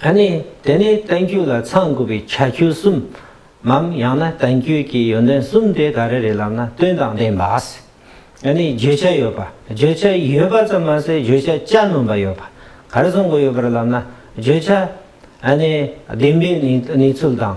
ཨ་ནི་དེ་ནི་གཏན་རྒྱུད་ལ་ཚང་དགོས་པའི་ཆ་རྒྱུད་གསུམ་མམ་ཡང་ན་གཏན་རྒྱུད་ཀྱི་ཡོན་ཏན་གསུམ་དེ་ག་རེ་རེད་ལབ་ན་དོན་དང་ལྡན་པ། ཨ་ནི་བརྗོད་བྱ་ཡོད་པ། བརྗོད་བྱ་ཡོད་པ་ཙམ་མ་ཟད་བརྗོད་བྱ་གཅའ་སྣོམ་པ་ཡོད་པ་ག་རེ་བཟུང་དགོས་ཡོད་པར་ལབ་ན་བརྗོད་བྱ་ཨ་ནི་བདེན་པའི་གནས་ཚུལ་དང།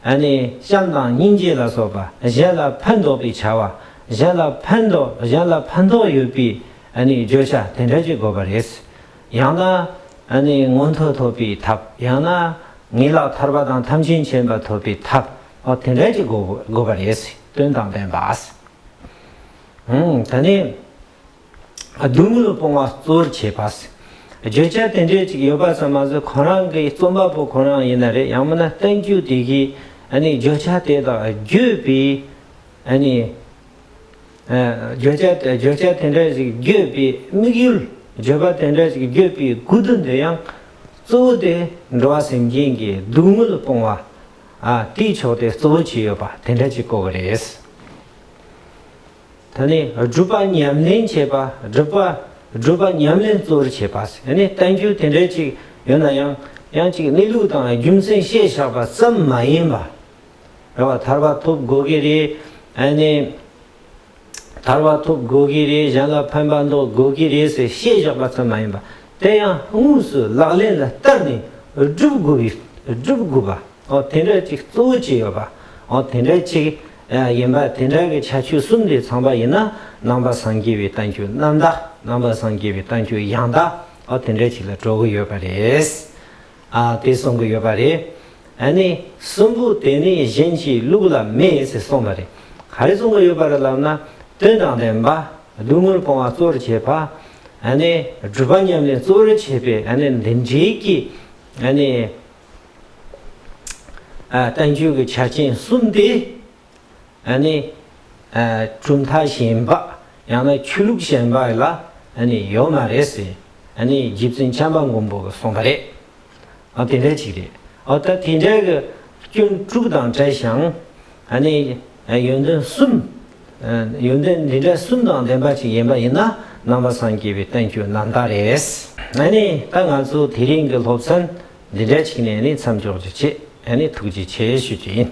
ཨ་ནི་བྱམས་དང་སྙིང་རྗེ་ལ་སོགས་པ་གཞན་ལ་ཕན་འདོགས་པའི་བྱ་བ་གཞན་ལ་ཕན་འདོགས་གཞན་ལ་ཕན་ཐོགས་ཡོད་པའི་ཨ་ནི་བརྗོད་བྱ་དེ་འདྲ་ཅིག་དགོས་པ་རེད། ཡང་ན། མངོན་མཐོ་ཐོབ་པའི་ཐབས་ཡང་ན། ངེས་ལག་ཐར་པ་དང་ཐམས་ཅད་མཁྱེན་པ་ཐོབ་པའི་ཐབས་དེ་འདྲ་ཅིག་དགོས་པ་རེད། དོན་དང་ལྡན་པ། ད་ནི། སྡུག་བསྔལ་སྤོང་བ་གཙོར་བྱས་པ། བརྗོད་བྱ་དེ་འདྲས་ཅིག་ཡོད་པ་ཙམ་མ་ཟད་ཁོ་རང་གི་རྩོམ་པ་པོ་ཁོ་རང་ཡིན་ན་རེད་ཡང་མིན་ན་བསྟན་བཅོས་དེ་གའི་བརྗོད་བྱ་དེ་དག་བརྗོད་པའི། བརྗོད་བྱ་བརྗོད་བྱ་དེ་འདྲ་ཞིག་བརྗོད་པའི་དམིགས་ཡུལ་བརྗོད་པ་དེ་འདྲ་ཞིག་བརྗོད་པའི་སྒུལ་བརྡོལ་འདི་ཡང་གཙོ་བོ་དེ་འགྲོ་བ་སེམས་ཅན་གྱི་སྡུག་བསྔལ་སྤོང་བ་དེའི་ཕྱོགས་དེ་གཙོ་བོ་བྱས་ཡོད་པ་དེ་འདྲ་ཅིག་གོ་བ་རེད། ད་ནི་སྒྲུབ་པ་ཉམས་ལེན་བྱེད་པ་སྒྲུབ་པ་སྒྲུབ་པ་ཉམས་ལེན་གཙོ་བོར་བྱེད་པ་ཟེར་ནས་བསྟན་བཅོས་དེ་འདྲ་ཅིག་ཡོད་ན་ཡང་ཡང་ཅིག་གནས་ལུགས་དང་རྒྱུ་མཚན་བཤད་བཞག་པ་ཙམ་མ་ཡིན་པ། རེད། བ་ཐར་བ་ཐུབ་དགོས་ཀྱི་རེད། ཨ་ནི། ཐར་བ་ཐུབ་དགོས་ཀྱི་རེད་གཞན་ལ་ཕན་པ་འདོགས་དགོས་ཀྱི་རེད་ཟེར་བཤད་བཞག་པ་ཙམ་མ་ཡིན་པ། དེ་ཡང་དངོས་སུ་ལག་ལེན་ལ་བསྟར་ནས་སྒྲུབ་དགོས་ཀྱི་སྒྲུབ་དགོས་པ། དེ་འདྲ་ཅིག་གཙོ་བོ་བྱས་ཡོད་པ། དེ་འདྲ་ཅིག་ཡིན་པ་དེ་འདྲ་གི་ཆ་ཆོས་གསུམ་དེ་ཚང་པ་ཡིན་ན་ནང་པ་སངས་རྒྱས་པའི་གཏམ་རྒྱུད་རྣམ་དག་ནང་པ་སངས་རྒྱས་པའི་གཏམ་རྒྱུད་ཡང་དག་དེ་འདྲ་ཅིག་ལ་འགྲོ་གི་ཡོད་པ་རེད། ཨ་དེ་གསུང་གི་ཡོད་པ་རེད། ཨ་ནི་གསུམ་པོ་དེ་ནི་གཞན་གྱི་ལུགས་ལ་མེད་ཟེར་གསུངས་པ་རེད། ག་རེ་གསུང་གི་ཡོད་པ་རེད་ལབ་ན། དོན་དང་ལྡན་པ། སྡུག་བསྔལ་སྤོང་བ་གཙོ་རུ་བྱེད་པ། ཨ་ནི་སྒྲུབ་པ་ཉམས་ལེན་གཙོ་རུ་བྱེད་པའི་ཨ་ནི་འདི་འདྲའི་གི་ཨ་ནི། ཨ་བསྟན་བཅོས་ཀྱི་ཆ་རྐྱེན་གསུམ་དེ་གྲུབ་མཐའ་གཞན་པ་ཡང་ན་ཆོས་ལུགས་གཞན་པ་ལ་ཡོད་མ་རེད་ཟེར། རྗེ་བཙུན་བྱམས་པ་མགོན་པོ་གསུངས་པ་རེད། དེ་འདྲ་ཅིག་རེད། ད་དེ་འདྲའི་སྐྱོན་དྲུག་དང་བྲལ་ཞིང། ཡོན་ཏན་གསུམ། ཡོན་ཏན་འདི་འདྲ་གསུམ་དང་ལྡན་པ་ཅིག་ཡིན་པ་ཡིན་ན་ནང་པ་སངས་རྒྱས་པའི་བསྟན་བཅོས་ནང་དག་རེད། ད་ང་ཚོ་དེ་རིང་གི་སློབ་ཚན་འདི་འདྲ་ཞིག་ནས་མཚམས་འཇོག་རྒྱུ་བྱེད། ཐུགས་རྗེ་ཆེ་ཞུ་རྒྱུ་ཡིན།